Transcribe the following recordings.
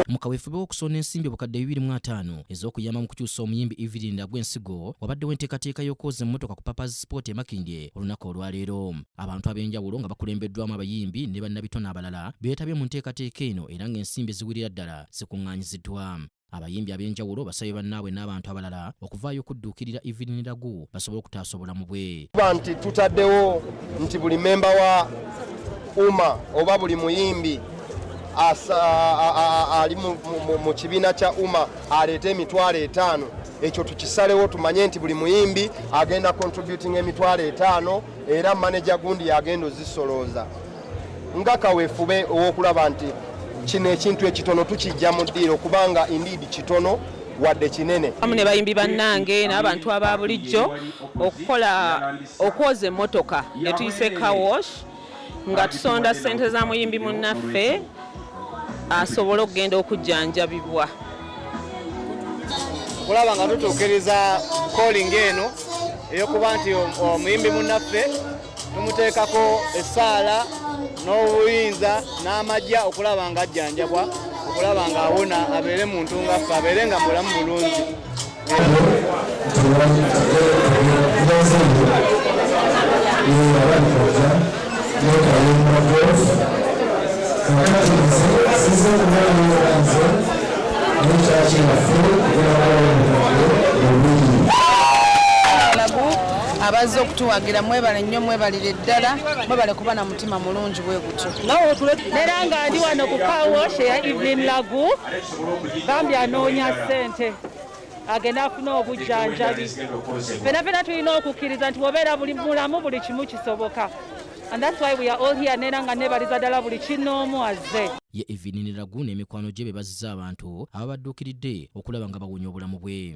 mu kaweefube w'okusonda ensimbi obukadde bibiri mu ataano ez'okuyamba mu kukyusa omuyimbi evelyn agw'ensigo wabaddewo enteekateeka y'okwoza emmotoka ku papas sport e makindye olunaku olwaleero abantu ab'enjawulo nga bakulembeddwamu abayimbi ne bannabitone abalala beetabye mu nteekateeka eno era ng'ensimbi eziwirira ddala zikuŋŋaanyiziddwa Abayimbi ab'enjawulo basabye bannaabwe n'abantu abalala okuvaayo okudduukirira Evelyn Lagu basobole okutaasa obulamu bwe. Kuba nti tutaddewo nti buli memba wa UMA oba buli muyimbi ali mu kibiina kya UMA aleeta emitwalo etaano ekyo tukisalewo tumanye nti buli muyimbi agenda contributing emitwalo etaano era maneja gundi yagenda ozisolooza nga kawefube owokulaba nti kino ekintu ekitono tukijja mu ddiiro kubanga indeed kitono wadde kinene amu ne bayimbi bannange n'abantu aba bulijjo okukola okwoza emmotoka ne tuyise kawosh nga tusonda ssente za muyimbi munnaffe asobole okugenda okujjanjabibwa okulaba nga tutuukiriza kolinga eno eyokuba nti omuyimbi munnaffe tumuteekako essaala n'obuyinza n'amagya okulaba nga ajjanjabwa okulaba nga awona abeere muntu nga ffe abeere nga mulamu bulungi Thank you. abazze okutuwagira mwebale nnyo mwebalire ddala mwebale kuba na mutima mulungi bwe gutyo neera nga ndi wano ku kawosh eya evelyn lagu bambi anoonya ssente agenda afuna obujjanjabi fena fena tulina okukkiriza nti wobeera buli mulamu buli kimu kisoboka and that's why we are all here neera nga nebaliza ddala buli kinoomu azze ye evinini lagu n'emikwano gye be bazizza abantu ababadduukiridde okulaba nga bawonya obulamu bwe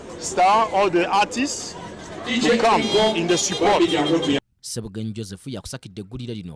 Star all the artists to come in the support. Sebugenyi Joseph yakusakidde eggulire lino